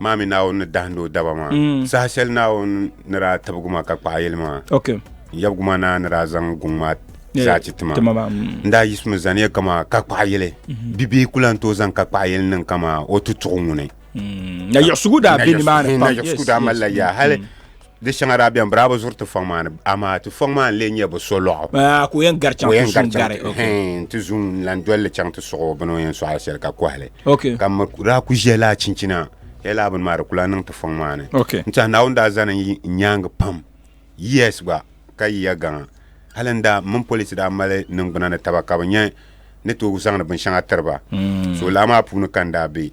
maa mi Naawuni ni dahindi o daba maa. Mm. Saha shɛli Naawuni ni daa tibigi ma ka kpaɣi yɛli maa, Ok. n yɛbigu maa naa ni daa zaŋ guŋ maa Yeah, zaa ti ti ma. ti ma maa, mm. N daa yiɣisimi zaniya kamaa ka kpaɣi yɛli. Mhm. Bibihi ku lan tooi zaŋ ka kpaɣi yɛli niŋ kamaa o tutuɣu ŋuni. Mm. Na yiɣisigu daa be nimaani pam. Na yiɣisigu Yes, daa yes, malila mm, yaa hali mm. Di shɛŋa daa bɛn biraabo zuri ti fɔŋ maa ni, amaa ti fɔŋ maa n-lee nyɛ bi so lɔɣu. Baa ka o yɛn gari chaŋ ti zuŋ gari. Hɛɛn, ti zuŋ n-lan doli li chaŋ ti suɣ o bini o yɛn sɔɣila shɛli ka kɔhi li. Ka m mi ku daa ku ʒiɛli a chinchina hee laa bini maa di ku lan niŋ ti fɔŋ maa ni. N tɛha Naawuni daa zani n nyaaŋa pam, yes gba, ka yiya gaŋa. Hali n daa, m mini police daa mali niŋgbuna ni taba ka bɛ nya ni tooi zaŋdi binshɛŋa tiri ba. So laa maa puuni ka n daa be.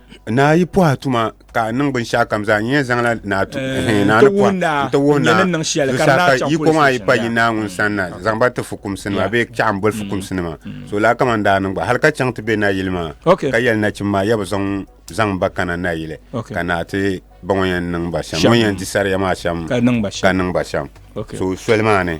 Naa yi pɔhi tuma ka a niŋ binshɛɣu kam zaa nyɛ zaŋla naa tu hɛn naa ni pɔhi n ti wuhi naa zusaa ka yi kɔŋ a yi pa yi naa ŋun sani na zaŋ ba ti fukumsi nima bee chaɣa n boli fukumsi nima so laa kama n daa niŋ gba hali ka chaŋ ti bɛ na yili maa ka yɛli nachim maa ya bi zaŋ zaŋ ba kana na yili ka naa ti ba ŋɔ yɛn niŋ ba shɛm ŋɔ yɛn di sariya maa shɛm ka niŋ ba shɛm so soli maa ni.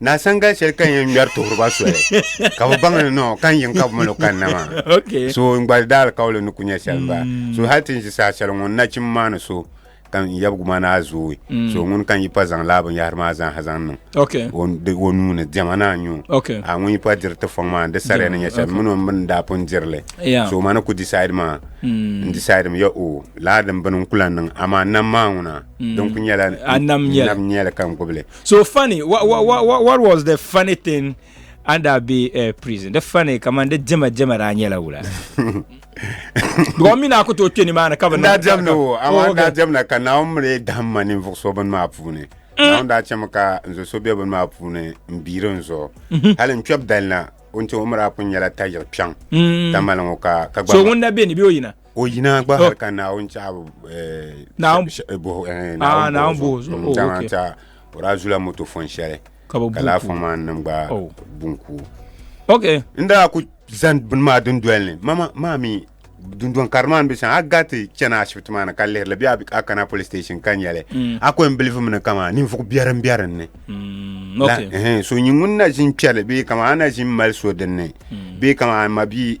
Na sanga shɛli ka yɛn ŋmɛri tuhuriba soli ka bi baŋ ni nɔ ka n yiŋ ka bi malo kanna maa Okay. so n gba daali kauli ni ku nyɛ shɛli n bala Mm. so hali ti n ʒi saha shɛli ŋɔ n nachim maa ni so ka n yɛbigu maa naa zooi Mm. so ŋun ka n yi pa zaŋ laa binyahari maa zaaha zaŋ niŋ Okay. o n- di- o nuu ni diɛma naa nyu Okay. a ŋun yi pa diri ti fɔŋ maa n di sariya ni nyɛ shɛli Okay. mini o mini daa pun dirili Yeah. so ma ni ku decide maa Mm. n decide mi ya o laa din bini n kula niŋ amaa nam maa ŋuna Mm. din ku nyɛla A nam nyɛli. nyɛli ka n gbubili so funny what, what, what, what was the funny thing under be uh, prison the funny come on the jema jema da nyela wula gɔmi na ku to kpeni maa ni ka bi daa jɛm ni o amaa daa jɛm na ka naawuni mili dahim ma ninvuɣ so bini maa puuni mm. naawuni daa chɛmi ka n zo so be bini maa puuni n biiri n zuɣu mhm. hali n kpɛb dali na o ni chɛ o mi daa pun nyɛla tayiri kpɛŋ mm. tamali ŋɔ ka so ŋun na be ni be o yina o yina gba hali ka naawuni chaɣabu naawuni boho zuɣu dama n tiɛha o daa zula moto fon shɛli ka laa fon maa nim gba bunku ok n daa ku zani bini maa dundoli ni mama maa mi dundɔn kari maa ni bɛ sani a gariti chɛna ashibiti maa ni ka lihirili bee a kana police station ka nyɛli a ko n bilifu mi ni kama ninvuɣu biɛri n bɛ dinni so nyɛ ŋun na ʒini kpɛri bee kama a na ʒini mali so dinni bee kama a mabi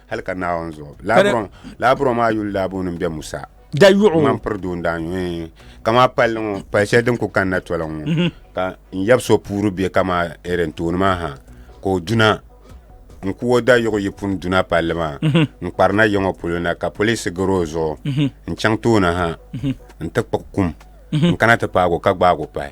hali ka naawuni zuɣu laaburon maa yuli laabu nim bɛ musa da yuɣu ŋman piri doo n daa yuɣu kama palli ŋɔ pali shɛli din ku kanna tɔla ŋɔ mhm. ka n yɛbi so puuri bɛ kama erin tooni maa ha ka o duna n ku o da yuɣu yi puni duna palli maa mhm. n kparina yiŋɔ polo na ka polisi gari o zuɣu mhm. n chaŋ tooni ha n ti kpuɣi kum n kana ti paago ka gbaago pahi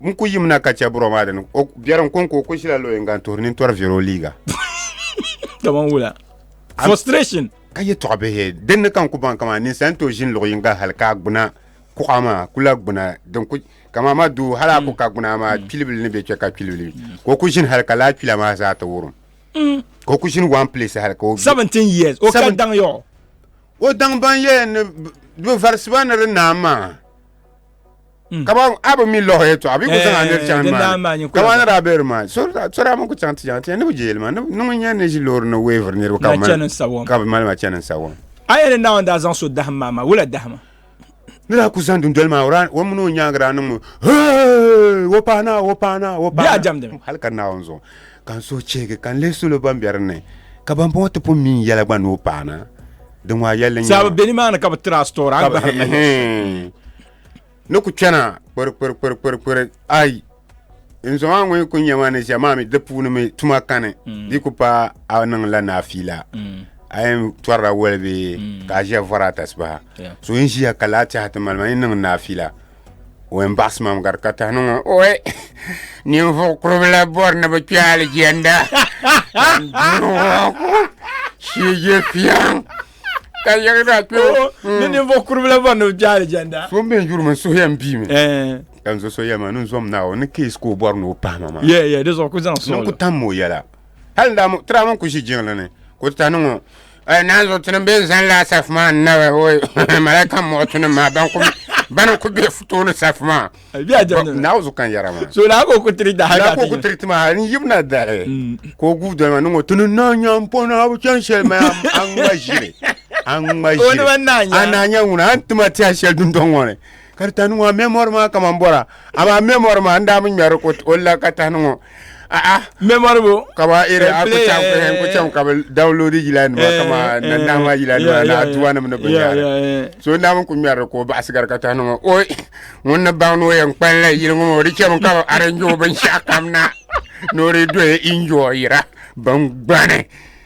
N ku yim na ka chɛ buro maa dini. O biɛri n-ko n-ku o ku ʒila luɣ yiŋga n-tuhiri nintɔri viɛr o liiga. Kaman wula? Frustration! Ka yɛtɔɣ bihi din ni ka n ku baŋ kaman ninsal ni tooi ʒini luɣ yiŋga hal ka a gbuna kuɣa maa ku lahi gbuna din ku Ka maa ma duu hal a ku ka gbuna maa kpilibili ni bɛ kpe ka kpilibili ka o ku ʒini hal ka lahi kpila maa zaa ti wurim. Ka o ku ʒini one place hal ka o 17 years. O ka Seven- daŋ yaɣɔ. O daŋ ban yɛn ni bi varisi ba ni di naai maa. Mm. ka ban a bi mi lɔhi yɛtɔɣa a bi ku Eh, zaŋ a niri chaŋ din daa maa maa ni nyɛ ka ban kula. daa bɛ di maa so daa so daa mi ku chaŋ ti chaŋ ti yɛn ni bi jɛli ma ni ni ŋun yɛn ni ʒi loori ni weeviri niriba ka Na bi mali- chani n-sa wɔm. ka bi mali ma chani n-sa wɔm A yɛn ni Naawuni daa zaŋ so dahim maa maa, wula dahima? ni daa ku zaŋ dundoli maa o daa- o mini o nyaanga daa niŋmi "Hey, o paana o paana o Bɛ a paana jɛmdi mi. hali ka Naawuni zuɣu ka n suhu chihigi ka n lihi salo ban bɛ dinni ka ban bɔŋɔ ti pun mi n yɛla gba ni o paana di ŋmaa yɛlli n-nyɛ Sabi bɛ nimaani ka bi tiri a story, a ni bahiri na hɛn. Ni ku chana kpirikpirikpirikpiri ai n zom a ŋɔ yi ku nya ma ni ʒiya maa mi di puuni mi tuma kani di yi ku pa a niŋ la naafiila a yɛn tɔrila wali bee ka a ʒiya vɔri a tasibaha Yeah. so n ʒiya ka laati ha ti mali ma yi niŋ naafiila o yɛn baɣasi mam gari ka tahi niŋ o oi ninvuɣ kuribila bɔri ni bi kpɛ aligiɛnda shije fiɛŋ ka yɛri daa kpɛ ni ninvuɣ kuribila bɔri ni bi kpɛ aligiɛnda so n bɛ n yuri mi n suhu yɛn bii mi ka n zo so yɛma ni n zom naawuni ni keesi ka o bɔri ni o pahima maa yɛ yɛ di zuɣu ku zaŋ sɔŋ ni n ku tam o yɛla hali tiraama n ku ʒi jiŋli ni ka o ti tahi niŋ o Ay nan zo tinim ben zan la saf ma na wa oy malaika mo tinim ma ban ku ban ku be futo ni saf ma bi a jam na zo kan yara ma so la ko ku tri da ha ko ku tri ma ni yim na da re ko gu do ma ngo tun na nyam po na bu chan shel ma an ma jire an ma jire an na nyam na an tuma ti a shel dun don ngone Ka di tahini ŋɔ a mɛ mɔri maa kaman bɔra, amaa mɛ mɔri maa n-daa mi ŋmɛri o o la ka tahini ŋɔ. A'a. Mɛ mɔri bo? Ka ba iri a ku chaŋ n ku chaŋ ka bi downloadi yila nima kaman na nahi maa yila nima ni aduwa nim ni binyɛra. So n-daa mi ku ŋmɛri ka o baɣa sigari ka tahini ŋɔ oi ŋun ni baŋ ni o yɛn kpalim la yili ŋɔ maa o di chɛmi ka bi arrange o binshɛɣu kam na ni o di doi enjoy ra bingbani.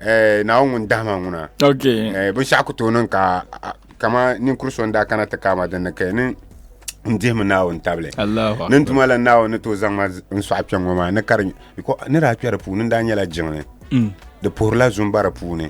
Ɛɛ na ŋun dahima ŋuna binshɛɣu ku tooi niŋ ka kama ninkuri so n daa kana ti kaama din ni kɛ ni n dihimi naawuni tabili ni tuma la naawuni ni tooi zaŋma n sɔɣi kpɛŋŋɔ maa ni ka di ni daa kpɛ di puuni n daa nyɛla jiŋli di puhirila zumbara puuni